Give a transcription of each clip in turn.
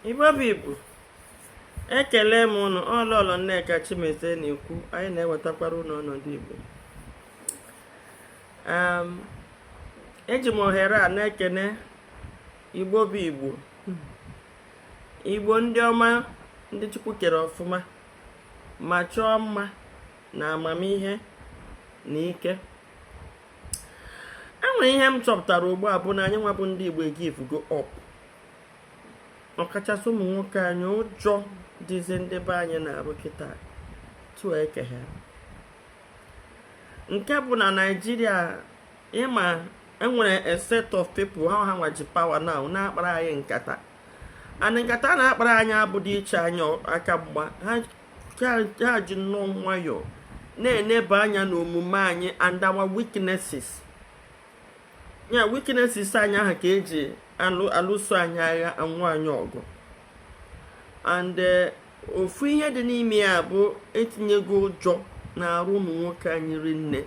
igbo bụ igbo ekele m ụnụ ọ lọlọ nneka chimezie na-ekwu anyị na-ewetakwara ụnụ ọnọdụ igbo eji m ohere a na-ekene igbo bụ igbo igbo ndị ọma ndị chukwu kere ọfụma ma chọọ mma na amamihe na ike e nwere ihe m chọpụtara ugbu a bụ na anyị nwa bụ ndị Igbo givugo up ọkachasị ụmụ nwoke anyị ụjọ dịzi ndị be anyị n'arụ kịta tụọ eke ha nke bụ na naijiria ịma enwere a set of people ha ha nwa ji power now na-akpara anyị nkata and nkata na-akpara anyị abụdị iche anyị aka mgba ha ha ji nnọọ nwayọọ na-eneba anya n'omume anyị and our weaknesses ya weaknesses anyị ahụ ka eji alụso anyị agha anwụ anyị ọgụ and eh, ofu ihe dị n'ime ya bụ etinyego ụjọ n'arụ ụmụ nwoke anyị rinne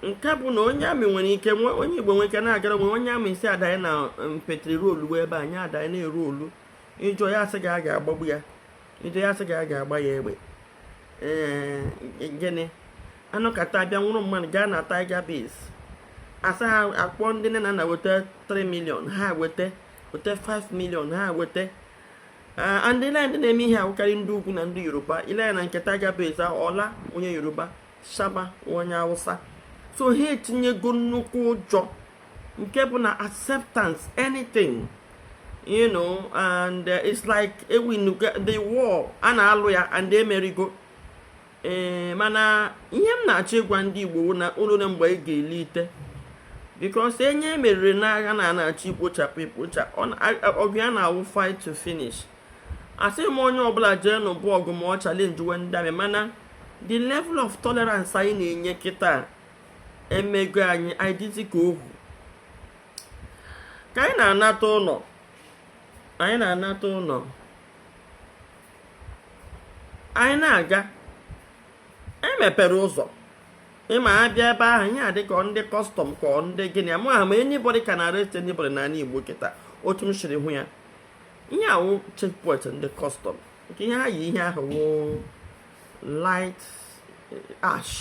nke bụ na onye amị nwere ike onye igbo nwere ike na-agara onwe onye amị sị ya danye na um, petri roluwe be anyị adanye na-erolu ị jụọ ya asị gị a ga-agbagbu ya Ido ya sị gị a ga-agba ya egbe ee gịnị anọkata abịa nwụrụ mmadụ gaa na Tiger Base asị ha kpọọ ndị nne na nna weta 3 million ha weta weta 5 million ha weta ndị na ndị na-eme ihe a wụkarị ndị ugwu na ndị yoruba i lee ya na nke Tiger Base ọla onye yoruba shaba onye awụsa so ha etinyego nnukwu ụjọ nke bụ na accept anything you know and uh, it's like ewinugo the war a na-alụ ya and emerigo ee eh, mana ihe m na-achọ ịgwa ndị Igbo na o luna mgbe anyị ga-elite because onye emeriri n'agha na a na-achọ ikpochapụ ikpocha ọgụ ya na-awụ fight to finish asịghị m onye ọbụla jee nụba ọgụ ma ọ challengewe ndị amị mana the level of tolerance anyị na-enye kịta emego anyị anyị dịzi ka ohu ka anyị na-anata ụlọ anyị na-anata ụlọ anyị na-aga emepere ụzọ ịma abịa ebe ahụ ihe dị ka ndị custom ka ndị gịnị amahụ m anybody can arrest anybody n'ala Igbo kịta otu m siri hụ ya ihe a wụ checkpoint ndị custom nke ihe ha yi ihe ahụ wụ light eh, ash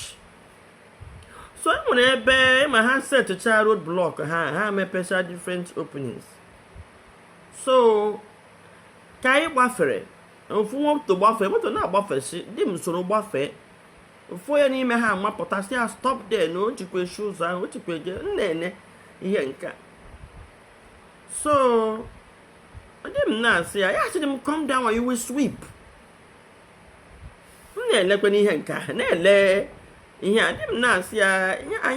so e nwere ebe ị ma ha setụcha road block ha ha mepecha different openings so ka anyị gbafere ofu moto gbafee moto na-agbafesi di m soro gbafee ofu onye n'ime ha mapụta sị ya stop there na o jikwa eshi ụzọ ahụ o jikwa eje m na-ene ihe nke a so di m na-asị ya ya sị di m come down you will sweep m na-elekwenụ ihe nke a na-ele ihe a di m na-asị ya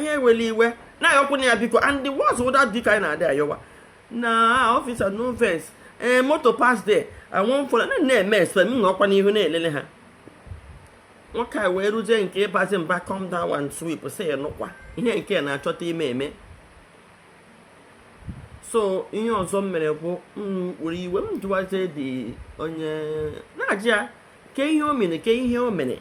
ya ewele iwe na-ayọkwanụ ya biko and the words ụda dịka anyị na-adị ayọwa na officer no vex ee eh, moto pass there anwụ mfọrọ na na-eme espe m nọkwa n'ihu na-elele ha nwoke a wee ruzie nke ịbazi mba come down and sweep sị nụkwa ihe nke na-achọta ime eme so ihe ọzọ m mere bụ m were iwe m jụwazie dị onye na-ajụ ya ke ihe o mere ke ihe o mere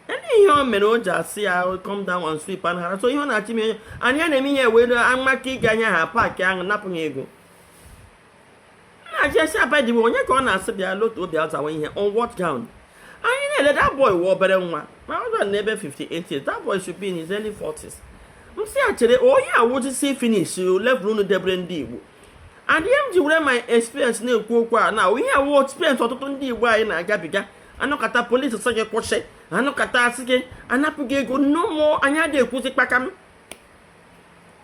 ele ihe o mere o ji sị ya come down and sweep and hara so ihe ọ na-achị m ihe anyị na-eme ihe wee amaka ike anya ha paakị anapụ ha ego na-achị esi abadiwe onye ka ọ na-asị bịa lotuo bịa zawa ihe on what ground anyị na-ele that boy wụ obere nwa ma ọ dọrọ n'ebe 58 years that boy should be in his early 40s m sị ya chere ihe a wụzi see finish level unu debere ndị igbo adịghị m ji were my experience na-ekwu okwu a na ihe a wụ experience ọtụtụ ndị igbo anyị na-agabiga a nọkata polisi sị gị kwụsị a nọkata asị gị anapụ gị ego no more anyị adịghị ekwuzi kpakam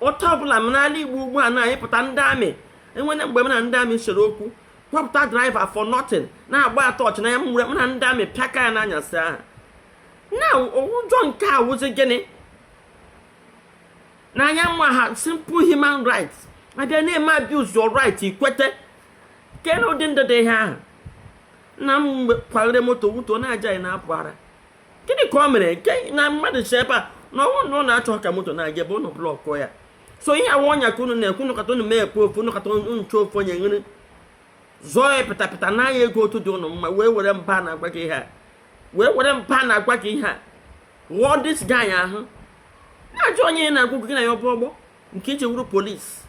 otu ọbụla n'ala igbo ugbu a anyị pụta ndị amị enwere mgbe m na ndị amị sere okwu kpọpụta driver for nothing na-agba tọọchị n'anya m were m na ndị amị pịaka ya n'anyasị ahụ na-ajụ nke a wụzi gịnị na anyị enweghị simple human rights a bịa na-eme abuse your right ikwete kee na ụdị ndị dị ihe ahụ nna m mgbe kwaghere moto wuto na-ajụ ị na-apụ ara gịnị ka o mere nke na mmadụ si ebe a na ọ wụ na ụnụ achọghị ka moto na-aga ebe ụnụ blọkụ ya so ihe a wụ ọnya ka unu na-ekwe ụnụ nọkata ụnụ mee ekwu ofu ụnụ nọkata ụnụ chọọ ofu onye nyere zọọ ya pịtapịta naa ya ego otu dị ụnụ mma wee were mba na-agwa gị ihe a wee were mba na-agwa gị ihe a ghọọ this guy ahụ na-ajụ onye na-agwa gị na ya bụ ọgbọ nke i ji wụrụ polisi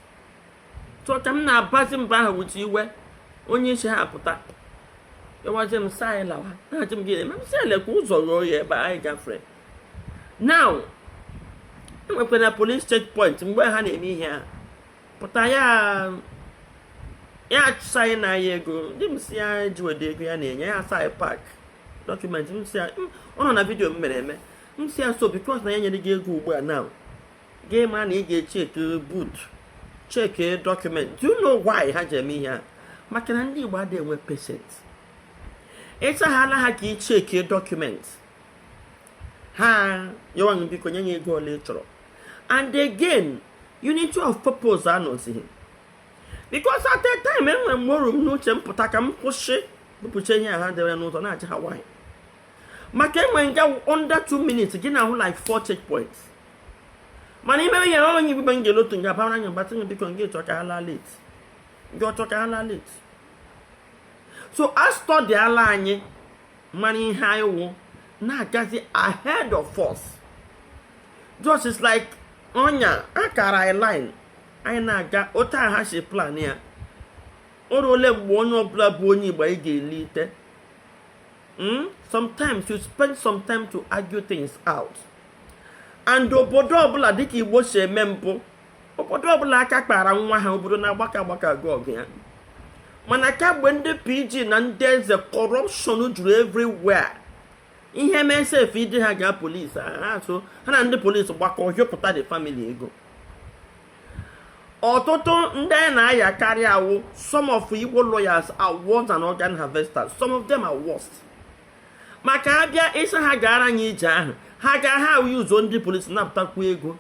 so ka m na-abazi mba ahụ ewezi iwe onye isi ha pụta yọwazi m sị anyị lawa na-achị m gị eme m sị lekwa ụzọ ruo ya ebe anyị gafere now enwekwa na police checkpoint mgbe ha na-eme ihe ha pụta ya ya asị anyị nye ya ego di m sị ya jiwede ego ya na-enye ya asị anyị park dọkụmentị m sị ya ọ nọ na vidiyo m mere eme m sị ya so because na ya enyeghị gị ego ugbu a now gị ma na ị ga-echeki boot cheki dọkụment do you know why ha ji eme ihe a maka na ndị Igbo adịghị enwe patience ịchaghala ha ka ị cheki dọkụment ha ayọwa biko nye ya ego ole ọ chọrọ and again unity of purpose anọzighị because at a time enwere mgbe o ru m n'uche m pụta ka m kwụsị bupụcha ihe a ha dere n'ụzọ na-aja ha nwaanyị maka enwe nga under 2 minutes gị na-ahụ like 4 checkpoints mana ime ihe ọrụ onye ibe ngel otu nga bara anya gbatị nye biko nga ịchọ ka ha laa late nga ọchọ ka ha laa late so a studyala anyị mara ihe anyị wụ na-agazi ahead of us just is like onye kara anyị line anyị na-aga otu ha si plan ya o ruole mgbe onye ọbụla bụ onye igbo anyị ga-elite mm? sometimes you spend some time to argue things out and obodo ọbụla dịka igbo si eme mbụ obodo ọbụla aka kpara nwa ha obodo na-agbakọ agbakọ aga ọgụ ya mana kamgbe ndị PG na ndị eze kọrọpshọn juru everywhere ihe mee sef ide ha gaa polisi ha so ha na ndị polisi gbakọ hịọpụta the family ego ọtụtụ ndị anyị na-ayakarị awụ some of Igbo lawyers are worse than organ harvesters some of them are worse maka a bịa ị sị ha gaara anyị ije ahụ ha gaa ha awụ ụzọ ndị polisi napụtakwu ego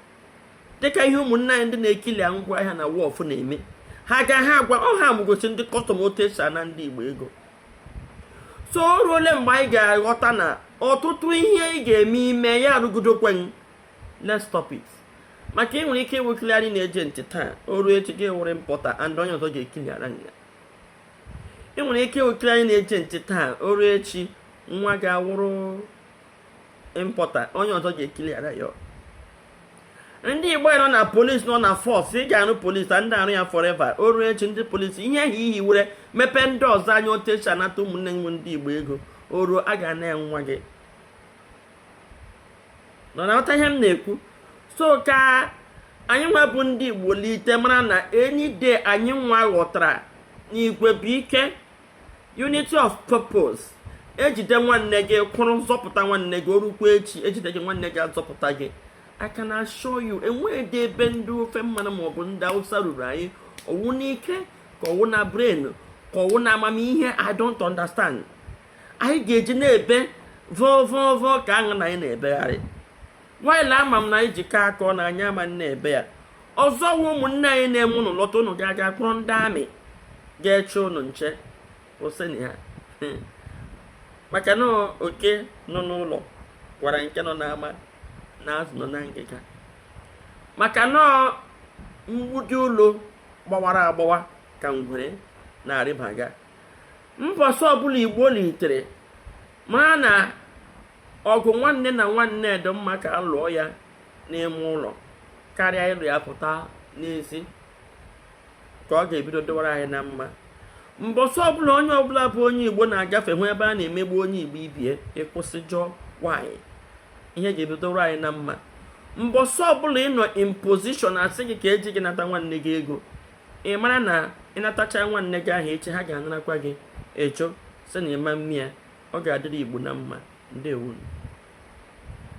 dịka ihe ụmụnne anyị ndị na-ekilia ngwa ahịa na wọf na-eme ha gaa ha agwa ọ ha na-egosi ndị kọstọm otu esi ana ndị Igbo ego so o ruole mgbe anyị ga-aghọta na ọtụtụ ihe ị ga-eme ime ya arụgidokwa anyị let's stop it maka ị nwere ike ịwụ clearing agent taa o ruo echi gị wụrụ importer and onye ọzọ ga-ekiliara ya ị nwere ike ịwụ clearing agent taa o ruo echi nwa gị awụrụ importer onye ọzọ ga-ekiliara ya ndị igbo nọ na polisi nọ na fọs ị ga-arụ polisi adịghị arụ ya fọreva o ruo echi ndị polisi ihe ahụ i ji were mepee ndị ọzọ anya otu esi anata ụmụnne m ndị igbo ego o ruo a ga-ana nwa gị unu na-aghọta ihe m na-ekwu so ka anyị nwa bụ ndị igbo lite mara na enyi de anyị nwa ghọtara na igwe bụ ike unity of purpose ejide nwanne gị kwụrụ zọpụta nwanne gị o rukwa echi ejide gị nwanne gị azọpụta gị I can assure you enweghịdị ebe ndị ofe mmanụ maọbụ ndị awụsa ruru anyị ọwụ n'ike ka ọwụ na brain ka ọwụ na amamihe i don't understand anyị ga-eji na-ebe vọvọvọ ka aṅụ na anyị na-ebegharị when ama m na anyị jikọọ aka ọnụ anyị ama na-ebe ya ọzọ wụ ụmụnne anyị na-eme ụnụ lọta ụnụ ga-aga kpọrọ ndị amị ga-eche ụnụ nche oseni ha maka na oke nọ n'ụlọ gwara nke nọ n'ama na azụ nọ na ngịga maka na mgbidi ụlọ gbawara agbawa ka ngwere na-arịbaga mbọsị ọbụla igbo litere mara na ọgụ nwanne na nwanne dị mma ka a lụọ ya n'ime ụlọ karịa ịlụ ya pụta n'ezi ka ọ ga-ebido dịwara anyị na mma mbọsị ọbụla onye ọbụla bụ onye igbo na-agafe hụ ebe a na-emegbu onye igbo ibe ya ị kwụsị jụọ why ihe ga-ebido dịwara anyị na mma mbọsị ọbụla ị nọ in position a sị gị ka e ji gị nata nwanne gị ego ị mara na ị natachaa nwanne gị ahụ echi ha ga-anarakwa gị ị jụ sị na ị ma mme ya ọ ga-adịrị igbo na mma ndewo